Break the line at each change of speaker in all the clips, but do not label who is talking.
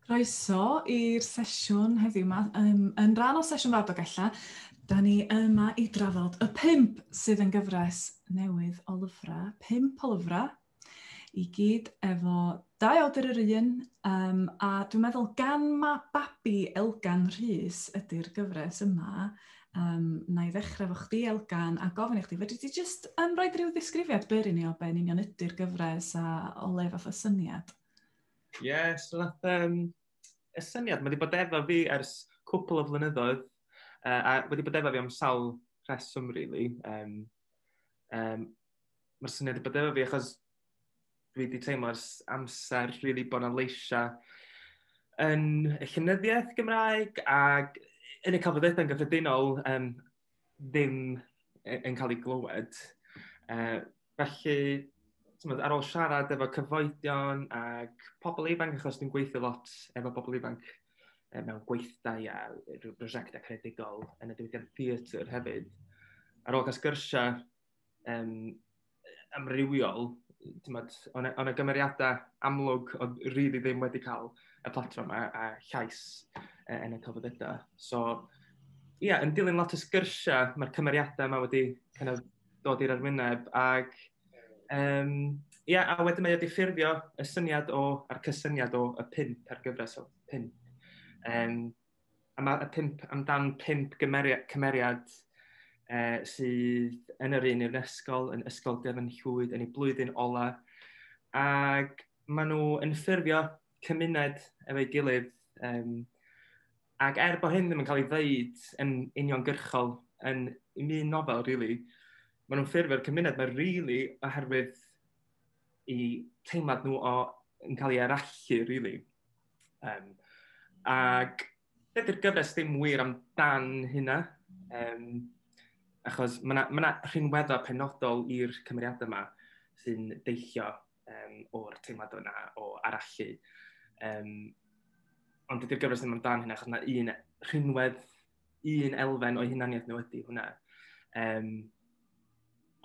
Croeso i'r sesiwn heddiw yma. Um, yn rhan o sesiwn Radog Ella, da ni yma i drafod y pimp sydd yn gyfres newydd o lyfrau, pimp o lyfrau, i gyd efo dau awdur yr un, um, a dwi'n meddwl gan mae babi Elgan Rhys ydy'r gyfres yma, um, na i ddechrau fo chdi, Elgan, a gofyn i chdi, fedri ti just um, roi rhyw ddisgrifiad byr i ni o be'n union ydy'r gyfres a o le fath o syniad? Ie, yeah,
so nath, um, y syniad, mae wedi bod efo fi ers cwpl o flynyddoedd, uh, a wedi bod efo fi am sawl rheswm, really. Um, um, Mae'r syniad wedi bod efo fi, achos dwi wedi teimlo ers amser rili really bod 'na leisiau yn y llynyddiaeth Gymraeg ac yn y cafodaethau'n gyffredinol um, ddim yn cael ei glywed. Uh, felly, tymod, ar ôl siarad efo cyfoedion ac pobl ifanc, achos dwi'n gweithio lot efo pobl ifanc e, mewn gweithdai a prosiectau credigol yn y diwydiant theatr hefyd, ar ôl cael sgyrsiau um, amrywiol, tymod, ond y gymeriadau amlwg oedd rili ddim wedi cael y platform a, a llais uh, yn y cyfodedau. So, ie, yeah, yn dilyn lot o sgyrsiau, mae'r cymeriadau yma wedi kind of, dod i'r arwyneb ac um, Ia, a wedyn mae wedi ffurfio y syniad o, a'r cysyniad o y pimp ar gyfres o pimp. Um, a mae y pimp amdan pimp gymeriad, cymeriad uh, sydd yn yr un i'r ysgol, yn ysgol Dyfn Llwyd, yn ei blwyddyn ola. Ac maen nhw yn ffurfio cymuned efo'i gilydd. Um, ac er bod hyn ddim yn cael ei ddeud yn uniongyrchol yn un nofel, really, maen nhw'n ffurfio'r cymuned mae'n really, oherwydd i teimlad nhw o, yn cael ei arallu, really. Um, ac dydy'r gyfres ddim wir amdan hynna. Um, achos mae yna ma rhinweddo penodol i'r cymeriadau yma sy'n deillio um, o'r teimlad yna o arallu. Um, ond dydy'r gyfres ddim amdan hynna, achos yna un rhinwedd, un elfen o'i hunaniaeth nhw ydy hwnna. Um,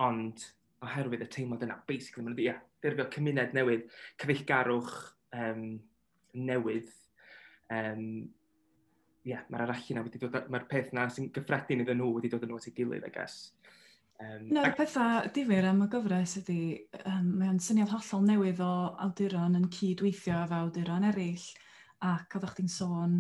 ond oherwydd y teimlad yna, basically, mae'n yeah, ffurfio cymuned newydd, cyfeillgarwch um, newydd. Um, yeah, mae'r arachu na wedi dod, mae'r peth na sy'n gyffredin iddyn nhw wedi dod yn nhw at ei gilydd, I guess. Um, Un o'r
pethau difyr am y gyfres ydy, um, mae'n syniad hollol newydd o awduron yn cyd-weithio efo awduron eraill, ac oeddech chdi'n sôn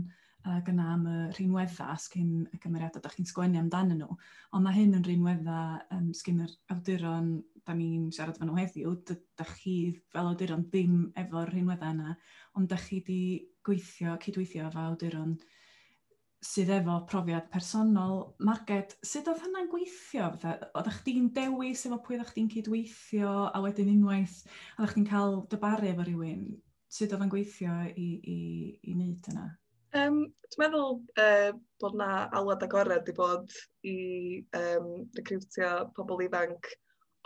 ac yna am y rhinweddau sgyn y cymeriadau da chi'n sgwennu amdanyn nhw. Ond mae hyn yn rhinweddau um, sgyn yr awduron da ni'n siarad fan nhw heddiw. Da chi fel awduron ddim efo'r rhinweddau yna, ond da chi wedi gweithio, cydweithio efo awduron sydd efo profiad personol. Marged, sut oedd hynna'n gweithio? Oeddech chdi'n dewis efo pwy oeddech chdi'n cydweithio a wedyn unwaith oeddech chdi'n cael dybaru efo rhywun, sut oedd yn gweithio i, i, i wneud yna? Um, dwi'n
meddwl uh, bod yna alwad agored i bod i um, recriwtio pobl ifanc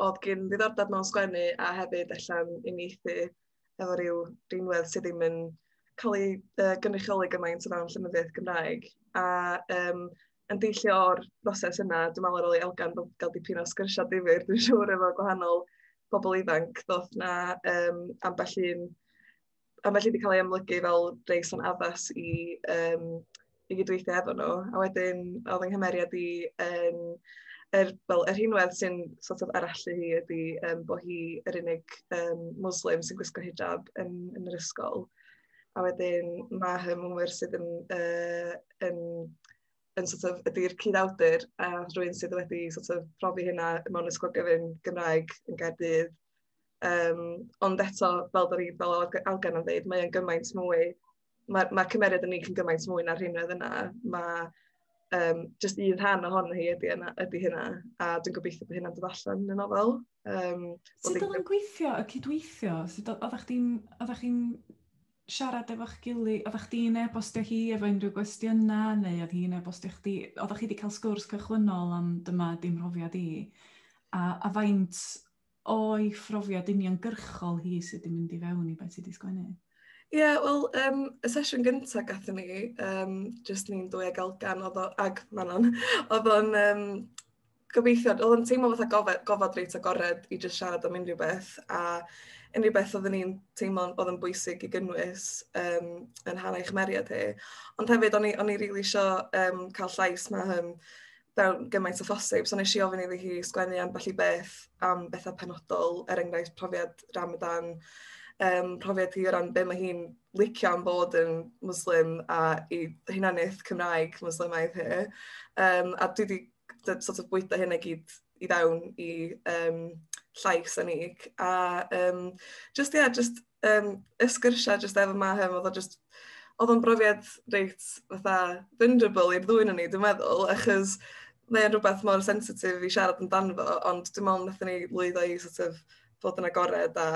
oedd gen ddiddordeb mewn sgwennu a hefyd allan uniaethu efo rhyw rhinwedd sydd ddim yn cael ei uh, gynrychioli gymaint o fewn llenyddiaeth Gymraeg. A um, yn deillio o'r broses yna, dwi'n meddwl ar ôl i Elgan gael dipyn o sgyrsiau difyr, dwi'n siŵr efo gwahanol bobl ifanc, ddoth na um, ambell un, ambell un wedi cael ei amlygu fel reis o'n addas i, um, i gydweithio efo nhw. A wedyn, oedd yng nghymeriad i yn, er, fel, er hinwedd sy'n sort of arallu hi ydy um, bod hi yr unig um, Muslim sy'n gwisgo hijab yn, yn yr ysgol. A wedyn mae fy mhwyr sydd yn yy yn yn sort of... ydy'r cyd-awdur a rhywun sydd wedi sort of profi hynna mewn ysgol gyfun Gymraeg yn Gaerdydd. Yym, ond eto, fel dan ni... fel oedd Alban yn ddeud, mae o'n gymaint mwy... ma' ma' cymeriad y Nîll yn gymaint mwy na'r rheiny oedd yna. Ma'... um, just un rhan ohon hi ydy, yna, ydy hynna, a dwi'n gobeithio bod hynna'n dod allan yn y nofel. Um, Sut
oedd yn gweithio y cydweithio? Sut oeddech chdi'n chi siarad efo'ch gilydd? Oeddech chdi'n e-bostio hi efo unrhyw gwestiynau, neu oedd hi'n e-bostio chdi? Oeddech chi wedi cael sgwrs cychwynnol am dyma dim mhrofiad i? A, a faint o'i phrofiad uniongyrchol hi sydd wedi mynd i fewn i beth sydd wedi sgwennu? Ie, yeah, wel,
um, y sesiwn gyntaf gatho ni, um, jyst ni'n dwy ag Elgan, oedd o, ag Manon, oedd o'n um, gobeithio, oedd o'n teimlo fatha gofod, gofod reit agored i jyst siarad am unrhyw beth, a unrhyw beth oedden ni'n teimlo oedd yn bwysig i gynnwys um, yn hanau chymeriad hi. Ond hefyd, o'n i, on i rili really eisiau um, cael llais mae hyn, fel gymaint o phosib. So nes i ofyn iddi hi sgwennu ambell i beth am bethau penodol, er enghraifft profiad Ramadan, um, profiad hi o ran be mae hi'n licio am bod yn Muslim a i hunaniaeth Cymraeg Muslimaidd hi. Um, a dwi wedi sort of bwyta hyn i gyd i fewn i um, llais a nig. A um, just, yeah, just um, y sgyrsiau jyst efo Mahem, oedd o jyst oedd o'n brofiad reit fatha vulnerable i'r ddwy'n ni, dwi'n meddwl, achos mae'n rhywbeth mor sensitif i siarad amdano fo, ond dim ond nath ni lwyddo i sort of, fod yn agored a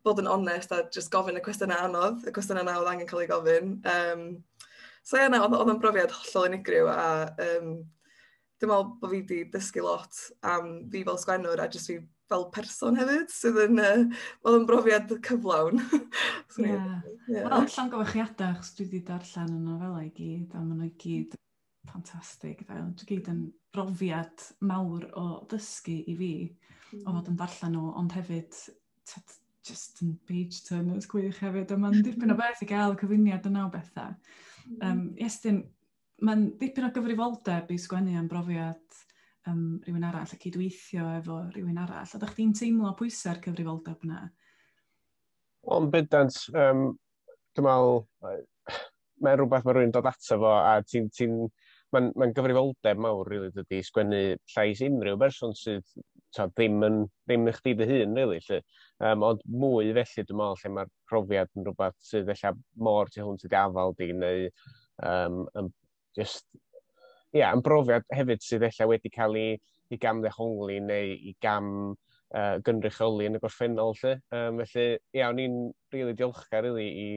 bod yn onest a just gofyn y cwestiynau anodd, y cwestiynau na oedd angen cael ei gofyn. Um, so ie, na, oedd o'n brofiad hollol unigryw a um, dwi'n meddwl bod fi wedi dysgu lot am fi fel sgwennwr a jyst fi fel person hefyd, sydd yn, uh, oedd yn brofiad cyflawn. so,
yeah. yeah. Wel, allan gyfachiadau, chos dwi wedi darllen y nofelau i gyd, a maen nhw i gyd ffantastig. Dwi gyd yn brofiad mawr o ddysgu i fi, mm. o fod yn darllen nhw, ond hefyd, tyd, just yn page turners gwych hefyd, a mae'n dipyn o beth i gael cyfuniad yna o bethau. Um, mm. Estyn, mae'n dipyn o gyfrifoldeb i sgwennu am brofiad um, rhywun arall a cydweithio efo rhywun arall. A ydych chi'n teimlo pwysau'r cyfrifoldeb yna? Wel,
bydant, um, dwi'n meddwl, mae'n rhywbeth mae rhywun dod ato fo a ti'n ti mae'n ma gyfrifoldeb mawr rili really, dydy sgwennu llais unrhyw berson sydd ta, ddim yn ddim i chdi dy hun rili really, lly. Um, ond mwy felly dwi'n meddwl lle mae'r profiad yn rhywbeth sydd ella mor tu hwnt i dy afal di, neu um, yn just, yeah, yn brofiad hefyd sydd ella wedi cael ei, ei gam ddehongli neu i gam uh, gynrychioli yn y gorffennol. Lle. Um, felly, ie, yeah, o'n i'n rili really diolchgar really, i,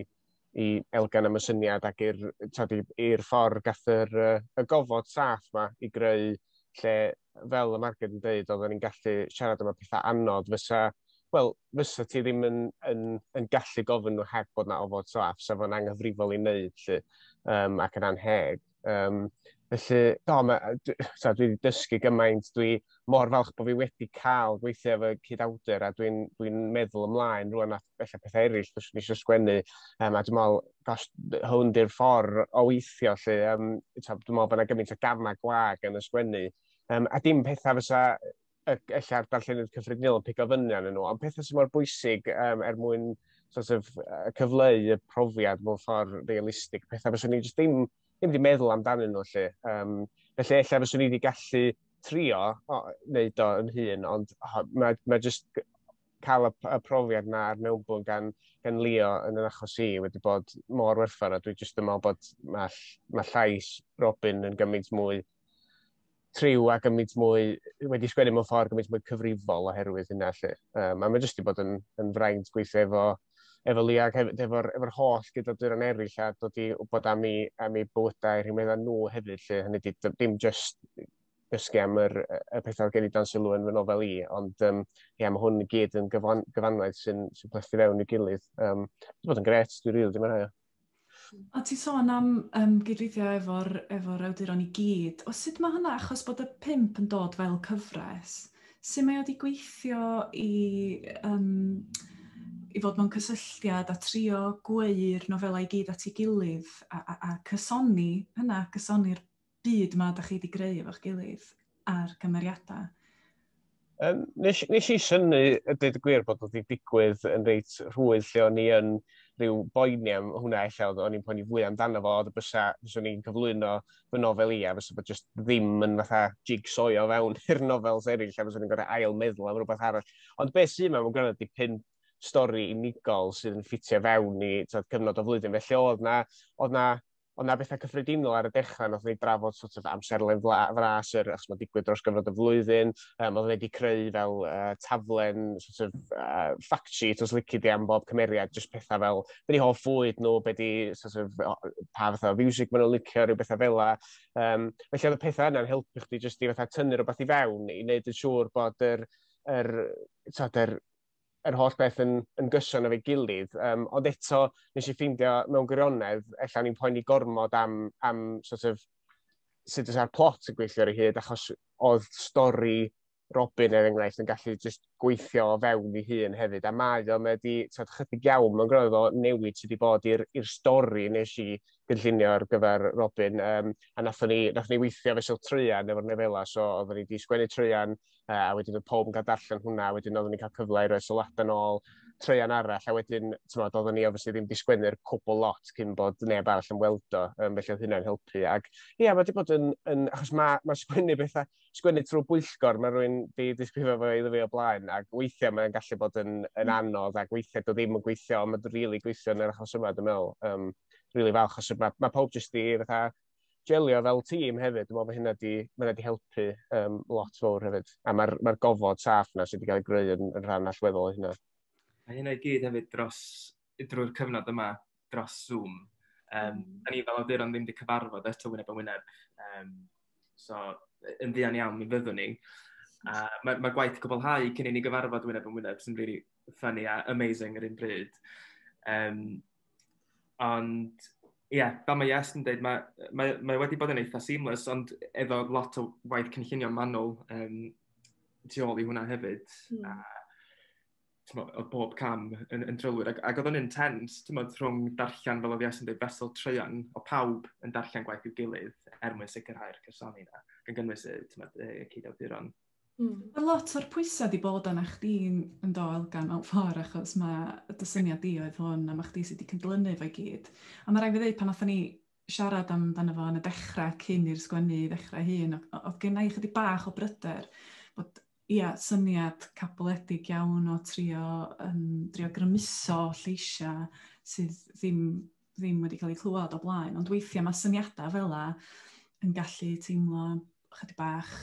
i Elgan am y syniad ac i'r ffordd gath yr, uh, y gofod saff ma i greu lle fel y marged yn dweud, oedden ni'n gallu siarad am y pethau anodd, fysa, wel, fysa ti ddim yn, yn, yn gallu gofyn nhw heb bod yna ofod saff, sef o'n anghyfrifol i wneud, lle, um, ac yn anheg. Um, felly, do, ma, dwi, so, dwi wedi dysgu gymaint, dwi mor falch bod fi wedi cael gweithio efo cyd-awdur, a dwi'n dwi meddwl ymlaen rwan at efallai pethau eraill fyswn i eisiau sgwennu. Um, a dwi'n meddwl, gosh, hwn di'r ffordd o weithio lle. Um, dwi'n meddwl bod yna gymaint o gamau gwag yn y sgwennu. Um, a dim pethau fysa ella'r darllenydd cyffredinol yn pigo fyny arnyn nhw, ond pethau sy'n mor bwysig um, er mwyn sort of, uh, cyfleu y profiad mewn ffordd realistig, pethau fyswn i jyst ddim, ddim wedi meddwl amdanyn nhw lle. Um, felly, efallai fyswn i wedi gallu trio o, wneud o yn hun, ond oh, mae, mae jyst cael y profiad yna a'r mewnbwn gan, gan Leo yn yr achos i wedi bod mor werthfawr a dwi jyst yn meddwl bod mae, mae llais Robin yn gymaint mwy triw a gymaint mwy, wedi sgwennu mewn ffordd gymaint mwy cyfrifol oherwydd hynna lle. Um, a mae jyst wedi bod yn, yn fraint gweithio efo, efo Leo ac hefyd efo'r efo holl gydawduron eraill a dod i wybod am ei, am ei bywydau rhywbeth â nhw hefyd lle hynny di, dim jyst dysgu am yr, y pethau oedd gen i dan sylw yn fy nofel i, ond um, yeah, mae hwn i gyd yn gyfan, gyfanwaith sy'n sy plethu fewn i gilydd. Um, Dwi'n bod yn gret, dwi'n rili ddim yn rhaid. A ti
sôn am um, gydweithio efo'r efo awduron i gyd. O sut mae hynna, achos bod y pimp yn dod fel cyfres, sut mae wedi gweithio i, um, i fod mewn cysylltiad a trio gweu'r nofelau i gyd at ei gilydd a, a, a cysoni hynna, cysoni'r byd ma da chi wedi greu efo'ch gilydd a'r cymeriadau?
Um, nes, nes i syni, y dweud y gwir, bod wedi digwydd yn reit rhwydd lle o'n i yn rhyw boeni am hwnna eich oedd o'n i'n poeni fwy amdano fo, oedd y bysa, bysa ni'n cyflwyno fy nofel i, a bysa bod jyst ddim yn fatha jigsaw o fewn i'r nofels eraill, a bysa ni'n gorau ail meddwl am rhywbeth arall. Ond beth sy'n mewn, mae'n gwneud di pum stori unigol sydd yn ffitio fewn i tyd, cyfnod o flwyddyn. Felly oedd na, oedd na Ond na bethau cyffredinol ar y dechrau, nath ni drafod sort of amserlen fla- fras yr achos mae'n digwydd dros gyfnod y flwyddyn. Um, oedd wedi creu fel uh, taflen sort of uh, fact sheet os lici di am bob cymeriad, just pethau fel be di hoff fwyd nhw, be di sort of, pa fath o fiwsig maen nhw'n licio, rhyw bethau fel la. Um, felly oedd y pethau yna'n helpu chdi jyst i fatha tynnu rhywbeth i fewn i wneud yn siŵr bod yr, yr, yr, yr yr holl beth yn, yn gyson efo'i gilydd. Um, ond eto, nes i ffeindio mewn gwirionedd, efallai ni'n poeni gormod am, am sort of, sut oes ar plot yn gweithio ar ei hyd, achos oedd stori Robin er enghraifft yn gallu just gweithio o fewn ei hun hefyd. A mae o, mae wedi tyd, chydig iawn mewn gwrdd o newid sydd wedi bod i'r stori nes i gynllunio ar gyfer Robin. Um, a nathon ni, nathon ni weithio fesul trwy'n efo'r nefela, so oedden ni wedi sgwennu trwy'n uh, a wedyn oedd pob yn cael darllen hwnna, a wedyn oeddwn ni'n cael cyfle i roi sylwadau yn ôl, treian arall, a wedyn, ti'n modd, oeddwn ni obviously ddim disgwennu'r cwbl lot cyn bod neb arall yn weld o, um, felly oedd hynna'n helpu. Ac ie, yeah, mae wedi bod yn, yn achos mae ma sgwennu bethau, sgwennu trwy bwyllgor, mae rhywun di disgrifio fo iddo fi o blaen, ac weithiau mae'n gallu bod yn, yn mm. anodd, ac weithiau dod ddim yn gweithio, ond mae'n rili really gweithio yn yr achos yma, dwi'n meddwl. Um, really falch, achos mae, mae pawb jyst i fatha, jelio fel tîm hefyd, dwi'n meddwl bod hynna wedi, hynna wedi helpu um, lot fawr hefyd. A mae'r ma gofod saff na sydd wedi cael ei greu yn, yn rhan allweddol o hynna. A hynna i gyd
hefyd dros, drwy'r cyfnod yma, dros Zoom. Um, da ni fel awduron ddim wedi cyfarfod eto wyneb yn wyneb. Um, so, yn ddian iawn, mi fyddwn ni. A mae, mae gwaith cwblhau cyn i ni gyfarfod wyneb yn wyneb sy'n really funny a amazing yr un bryd. Um, Ond ie, fel mae Jess yn dweud, mae, mae, mae wedi bod yn eitha seamless, ond efo lot o waith cynllunio manwl um, tu ôl i hwnna hefyd. Mm. A, o bob cam yn, yn drylwyr. Ac, ac oedd o'n intens, tymod, rhwng darllen, fel oedd Jess yn dweud, fesol treian o pawb yn darllen gwaith i'w gilydd er mwyn sicrhau'r cysoni yna, gan gynnwys y, tymod, y ceidawduron. Mm. Mae lot
o'r pwysau wedi bod arna chdi yn do elgan mewn ffordd achos mae dy syniad di oedd hwn a mae chdi sydd wedi cydlynu fo'i gyd. A mae rhaid fi ddweud pan oedden ni siarad amdano fo yn y dechrau cyn i'r sgwennu i ddechrau hun, oedd gen i chydig bach o bryder bod ia, syniad caboledig iawn o trio, um, trio grymuso lleisiau sydd ddim ddim wedi cael eu clywed o blaen, ond weithiau mae syniadau fel la yn gallu teimlo chydig bach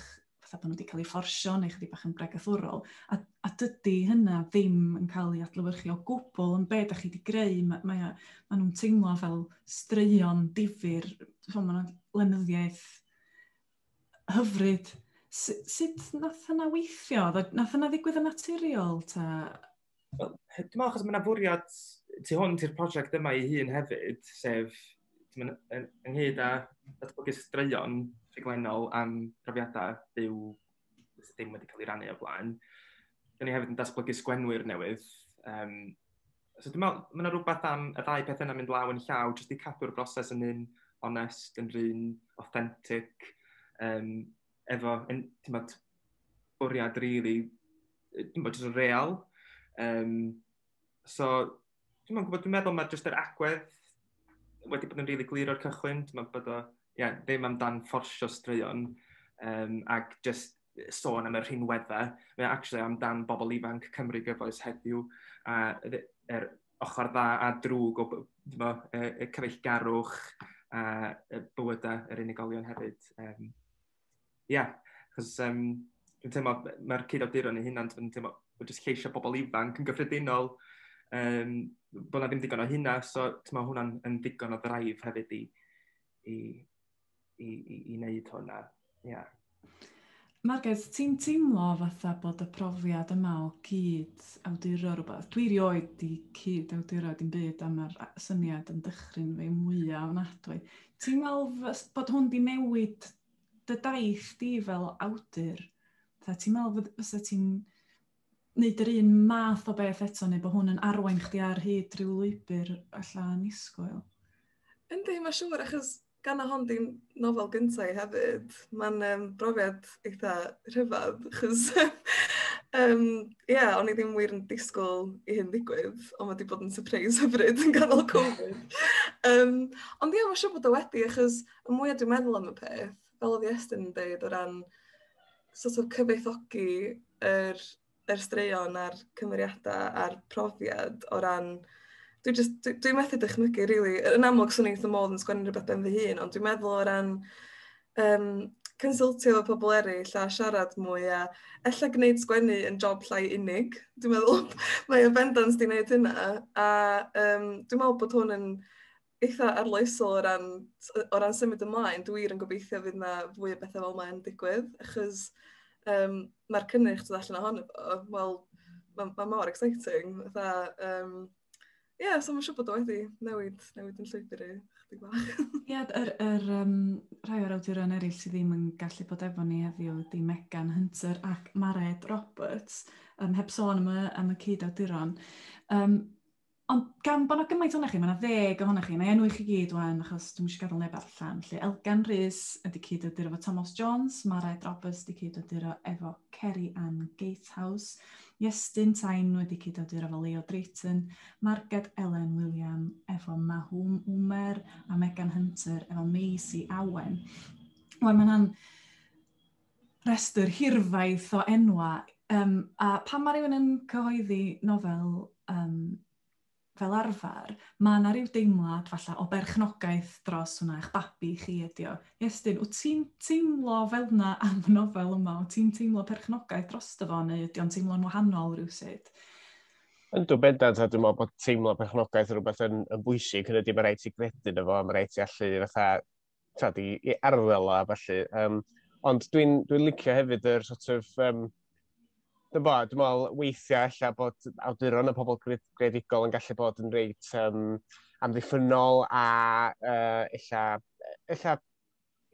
fatha bod nhw wedi cael eu fforsio neu chydig bach yn bregethwrol. A, a dydy hynna ddim yn cael ei adlywyrchu o gwbl yn beth da chi wedi greu. Mae, mae, mae nhw'n teimlo fel straeon difyr, mae nhw'n lenyddiaeth hyfryd. Sut nath yna weithio? Nath yna ddigwydd yn naturiol ta?
Wel, dwi'n meddwl achos mae yna fwriad tu hwnt i'r prosiect yma ei hun hefyd, sef yn, yn, ynghyd â datblygu straeon rhaglenol am profiadau byw sydd ddim wedi cael ei rannu o blaen. Dyna ni hefyd yn datblygu sgwenwyr newydd. Um, so dwi'n meddwl, mae yna rhywbeth am y ddau peth yna mynd law yn llaw, jyst i cadw'r broses yn un onest, yn rhywun authentic, um, efo yn t'mod bwriad rili yy t'mod jyst yn real yym so dwi'm yn gwbod dwi'n meddwl ma' jyst yr agwedd wedi bod yn rili glir o'r cychwyn t'mod bod o ie ddim amdan fforsio straeon yym ac jyst sôn am y rhinwedda mae o actually amdan bobol ifanc Cymru gyfoes heddiw a yy yr ochr dda a drwg o bo, y, y cyfeillgarwch a y bywydau yr unigolion hefyd. Um, yeah, achos um, dwi'n teimlo, mae'r cyd-awduron ei hunan, dwi'n teimlo, bod jyst lleisio bobl ifanc yn gyffredinol, um, bod na ddim digon o hynna, so mae hwnna'n yn ddigon o ddraif hefyd i, i, i, i, i wneud hwnna. Yeah.
Margaret, ti'n teimlo fatha bod y profiad yma o cyd awduro rhywbeth? Dwi rioed di cyd awduro dim byd am yr syniad yn dychryn fe mwyaf o nadwy. Ti'n meddwl bod hwn di newid dy daith di fel awdur? Ti'n meddwl fysa ti'n neud yr un math o beth eto neu bod hwn yn arwain chdi ar hyd rhyw lwybr alla annisgwyl? Yndi,
mae'n siŵr, achos gan o hon di'n nofel gyntaf i hefyd, mae'n um, brofiad eitha rhyfedd, achos um, yeah, o'n i ddim wir yn disgwyl i hyn ddigwydd, ond wedi bod yn surprise hyfryd yn ganol Covid. um, ond ie, yeah, mae'n siŵr bod o wedi, achos y mwyaf dwi'n meddwl am y peth, fel oedd Iestyn yn dweud, o ran sort of cyfoethogi yr, yr straeon a'r cymeriadau a'r profiad o ran... Dwi'n just, dwi, dwi methu dychmygu, really. Yn amlwg, swn i'n eitha modd yn sgwennu rhywbeth ben fy hun, ond dwi'n meddwl o ran um, consultio efo pobl eraill a siarad mwy a ella gwneud sgwennu yn job llai unig. Dwi'n meddwl mae o bendant di wneud hynna. A um, dwi'n meddwl bod hwn yn eitha arloesol o ran, o ran symud ymlaen. Dwi wir yn gobeithio fydd yna fwy o bethau fel mae'n digwydd, achos um, mae'r cynnyrch dod allan ohono fo, wel, mae ma mor exciting. Dda, um, Ie, yeah, so mae'n siŵr bod o wedi newid, newid yn llwybr i, chydig bach. Ie, yeah, yr, yr,
um, rhai o'r awduron eraill sydd ddim yn gallu bod efo ni heddiw ydy Megan Hunter ac Mared Roberts, um, heb sôn am y, am y cyd-awduron. Um, Ond gan bod 'na gymaint ohonoch chi, mae 'na ddeg ohonoch chi, mae enw i chi gyd wan, achos dwi'n eisiau gadael neb allan. Felly, Elgan Rhys yn di cyd ydyr efo Thomas Jones, Marae Drobus di cyd ydyr efo Ceri Ann Gatehouse, Iestyn Tain wedi cyd ydyr efo Leo Drayton, Marged Elen William efo Mahwm Umer, a Megan Hunter efo Maisie Awen. Wel, mae'n rhestr hirfaith o enwau. Um, a pan mae rhywun yn cyhoeddi nofel um, fel arfer, mae yna rhyw deimlad falle o berchnogaeth dros hwnna, eich babi chi ydi o. Iestyn, wyt ti'n teimlo fel yna am y nofel yma? Wyt ti'n teimlo perchnogaeth dros dy fo neu ydy o'n teimlo'n wahanol rhywsyd? Yn dw
bendant, a dwi'n meddwl bod teimlo perchnogaeth yn rhywbeth yn, yn bwysig, hynny ydy, mae rhaid ti gredu na fo, mae rhaid ti allu fatha tyd, i, i arddel a felly. Um, ond dwi'n dwi licio hefyd yr sort of... Um, Dwi'n bod, dwi'n meddwl weithiau lle bod awduron y pobl gredigol yn gallu bod yn reit um, amddiffynol a uh, illa, illa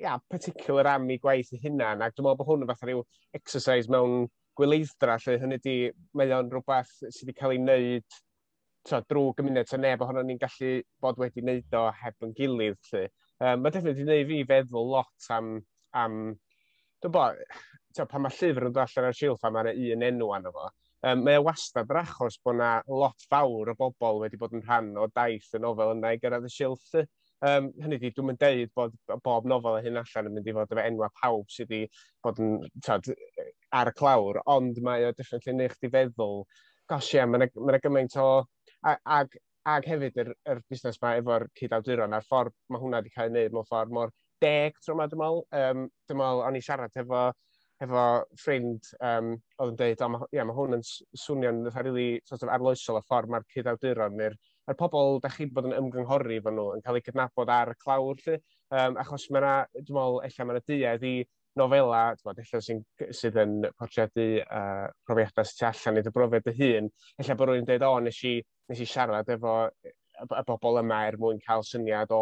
ia, particular am ei gwaith ei hunan, ac dwi'n meddwl bod hwn yn fath rhyw exercise mewn gwyleiddra, lle hynny di, mae o'n rhywbeth sydd wedi cael ei wneud so, drwy gymuned, so neb ohono ni'n gallu bod wedi wneud o heb yn gilydd. Lly. Um, mae defnydd wedi gwneud fi feddwl lot am, am dwi'n bod, so, pan mae llyfr yn dod allan ar silff a mae yna un enw anno fo, um, mae o wastad yr achos bod yna lot fawr o bobl wedi bod yn rhan o daith y nofel yna i gyrraedd y silff. Lly. Um, hynny di, dwi'n mynd deud bod bob nofel y hyn allan yn mynd i fod efo enwa pawb sydd wedi bod yn tod, ar y clawr, ond mae o different yn eich di feddwl, gosh ie, yeah, mae'n ma gymaint o... Ag, ag hefyd yr, yr busnes mae efo'r cyd-awduron a'r ffordd mae hwnna wedi cael ei wneud mewn ffordd mor deg tro yma, dwi'n meddwl. Um, dwi'n meddwl, o'n i siarad efo hefo ffrind um, oedd yn dweud, oh, yeah, mae hwn yn swnio'n fatha really sort of arloesol y ffordd mae'r cyd-awduron neu'r er pobl da chi wedi bod yn ymgynghori fo nhw yn cael eu cydnabod ar y clawr lle, um, achos mae yna, dwi'n meddwl, efallai mae yna duedd i nofela, dwi'n meddwl, sy'n, sydd yn portreadu uh, profiadau sy'n allan i dy brofiad dy hun, efallai bod rwy'n dweud, o, nes i, nes i siarad efo y bobl yma er mwyn cael syniad o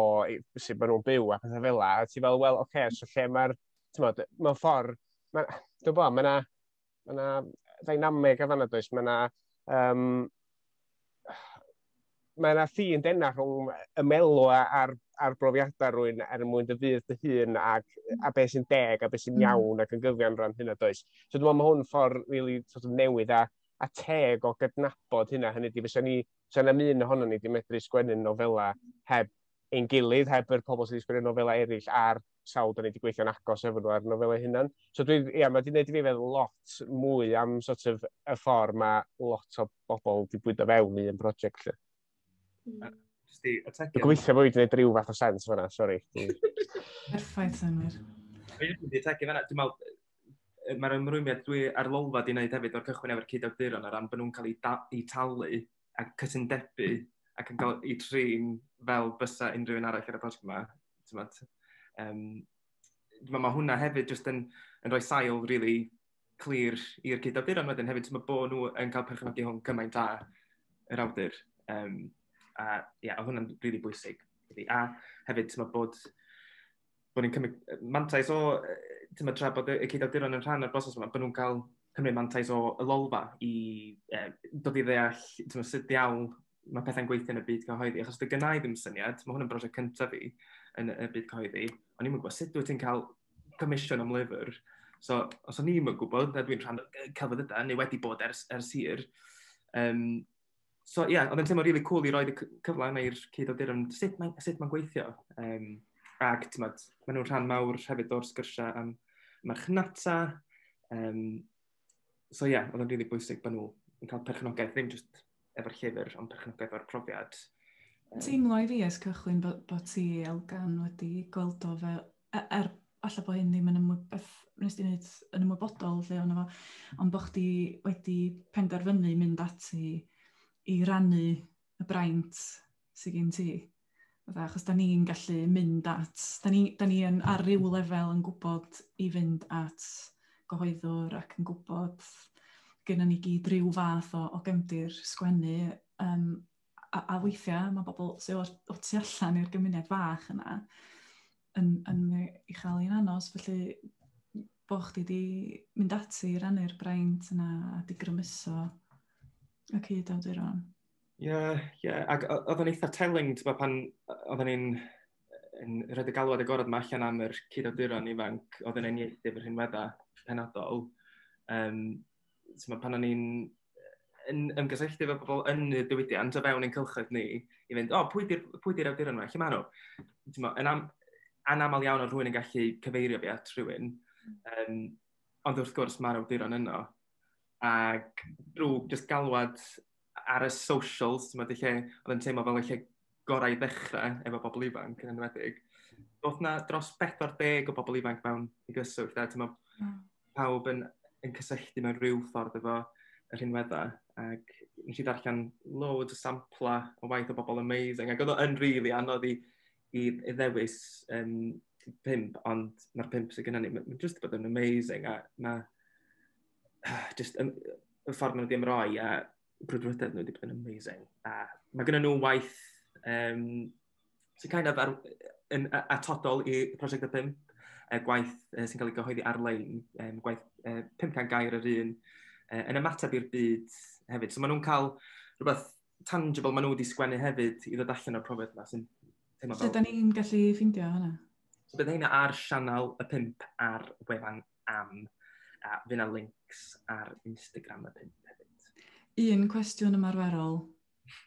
sut maen nhw'n byw a pethau fel la. A ti fel, wel, oce, okay, so lle mae'r tymod, mewn ffordd, mae'n dwi'n bod, mae yna ma na ddynameg a fanna does, mae yna um, mae yna ffin denna rhwng y melw a'r, ar brofiadau rwy'n er mwyn dy fydd dy hun ac, a beth sy'n deg a beth sy'n mm. iawn ac yn gyfiawn rhan hynna does. So dwi'n meddwl mae hwn ffordd really, sort of newydd a, a teg o gydnabod hynna. Hynny di, fysa ni, fysa na un ohono ni di medru sgwennu'n nofelau heb ein gilydd, heb yr pobl sydd wedi sgwennu'r nofelau eraill ar sawl da ni wedi gweithio'n agos efo nhw ar nofelau hunan. So dwi, ia, mae wedi gwneud i fi feddwl lot mwy am sort of y ffordd mae lot o bobl wedi bwydo fewn i un prosiect lle. Mm. Sti, y tegyn... Gweithio fwy wedi gwneud rhyw fath o sens fyna, sori. Perffaith,
Senwyr. Dwi'n mynd i tegyn fyna,
dwi'n meddwl, mae'r ymrwymiad dwi ar lolfa di wneud hefyd o'r cychwyn efo'r cyd-awduron ar ran bod nhw'n cael eu, eu talu a cytundebau ac yn cael ei trin fel bysa unrhyw un arall ar y prosiect yma. Tymod, um, mae, mae hwnna hefyd jyst yn, yn rhoi sail rili really clir i'r cyd-awduron wedyn hefyd. Mae bod nhw yn cael perchnogi hwn cymaint da yr awdur. Um, a ia, yeah, hwnna'n rili really bwysig. A hefyd, mae bod bod ni'n cymryd mantais o, ti'n tra bod y cyd-awduron yn rhan o'r broses yma, bod nhw'n cael cymryd mantais o y lolfa i e, dod i ddeall ti'n sut diawl mae pethau'n gweithio yn y byd cyhoeddi. Achos dy gynnau ddim syniad, mae hwn yn brosiect cyntaf fi yn y byd cyhoeddi, ond ni'n gwybod sut wyt ti'n cael comisiwn am lyfr. So, os o'n ni'n gwybod, na dwi'n rhan o'r celfyddydau, neu wedi bod ers, ers hir, um, so ie, yeah, oedd yn teimlo rili really cool i roed y cyfle yna i'r cyd o dyrym, sut mae'n ma gweithio. Um, ac, ti'n modd, maen nhw'n rhan mawr hefyd o'r sgyrsiau am marchnata. Um, so ie, yeah, oedd yn rili really bwysig bod nhw yn cael perchnogaeth, ddim jyst efo'r llyfr, ond perchnogaeth o'r profiad. Um, Teimlo
i fi ys cychwyn bod, bod ti, Elgan, wedi gweld o fel, er falle bod hyn ddim yn ymwybod, beth wnes ti'n neud yn ymwybodol lle o'n efo, ond bod chdi wedi penderfynu mynd ati i rannu y braint sydd gen ti. Fydda, achos da ni'n gallu mynd at, da ni, da ni yn, ar ryw lefel yn gwybod i fynd at gyhoeddwr ac yn gwybod gyda ni gyd rhyw fath o, o gefndir sgwennu um, a, a weithiau mae bobl sy'n o'r, o tu allan i'r gymuned fach yna yn, yn ei chael i'n anos, felly bod chdi wedi mynd ati i rannu'r braint yna a di grymuso y cyd awduron. Ie, yeah, ie.
Yeah. Ac oedd yn eitha telling, ti'n bod, pan oedd ni'n yn rhaid y galwad agorad yma allan am yr cyd awduron ifanc oedd yn enniaethu fy rhinwedda penodol. Um, t'mod pan o'n i'n yn ymgysylltu efo pobol yn y diwydiant o fewn ein cylchoedd ni i fynd o pwy 'di'r pwy 'di'r awduron 'ma lle ma' nhw? T'mo' yn am- anamal iawn o' rhywun yn gallu cyfeirio fi at rhywun yym ond wrth gwrs ma'r awduron yno ag drw jyst galwad ar y socials, ti'n meddwl, lle oedd yn teimlo fel y lle gorau i ddechrau efo bobl ifanc yn enwedig. Oedd na dros 40 o bobl ifanc mewn i gyswllt, a ti'n meddwl, hmm. pawb yn, yn cysylltu mewn rhyw ffordd efo yr hynweddau. Ac nes i ddarllen loads o sampla o waith o bobl amazing, ac oedd o'n rili really anodd i, i, i ddewis um, pimp, ond mae'r pimp sydd gennym ni, mae'n just bod yn amazing, a mae just, yn, y ffordd nhw'n ddim roi a brwdfrydedd nhw wedi bod yn amazing. A mae gen nhw waith um, sy'n kind of ar, yn atodol i prosiect y 5, e, gwaith e, sy'n cael ei gyhoeddi ar-lein, e, gwaith e, 500 gair yr un, e, yn ymateb i'r byd hefyd. So maen nhw'n cael rhywbeth tangible maen nhw wedi sgwennu hefyd i ddod allan o'r profiad yma sy'n teimlo fel... Lle da ni'n
gallu ffindio hwnna? So bydd heina ar
sianel y 5 ar wefan am. A fy na links ar Instagram y pump hefyd. Un cwestiwn
ymarferol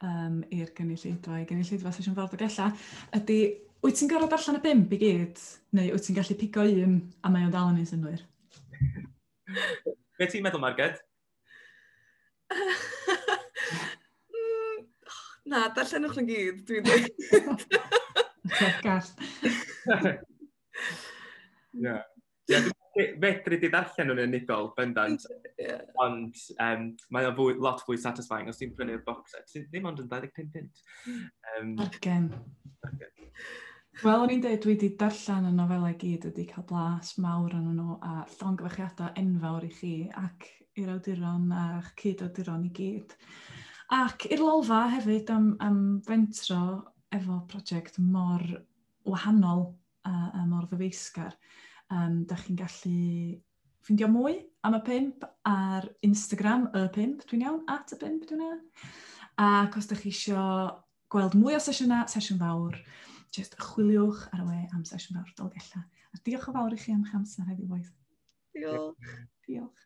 um, i'r gynulleidfa, i gynulleidfa sesiwn ffordd o gella, ydy, wyt ti'n gorfod allan y bimp i gyd, neu wyt ti'n gallu pigo un a mae o'n dal yn ei synwyr?
Be ti'n meddwl, Marged?
Mm, na, darllenwch yn gyd, dwi'n dweud.
Gall.
Ie, dwi fedru di ddarllen nhw'n unigol, bendant. Yeah. Ond um, mae o fwy, lot fwy satisfying os ti'n prynu'r box set. Sy'n ddim ond yn 25 pint. Um, Argen.
Wel, o'n i'n dweud, dwi wedi darllen y nofelau gyd wedi cael blas mawr yn nhw a llongyfarchiadau enfawr i chi ac i'r awduron a'ch cyd-awduron i gyd. Ac i'r lolfa hefyd am, am fentro efo prosiect mor wahanol a, a mor ddyfeisgar. Um, da chi'n gallu ffindio mwy am y pimp ar Instagram y pimp, dwi'n iawn, at y pimp, dwi'n iawn. Ac os da chi eisiau gweld mwy o sesiynau, sesiwn fawr, jyst chwiliwch ar y we am sesiwn fawr Dolgellau. A diolch o fawr i chi am eich amser heddiw,
boys.
Diolch. Diolch.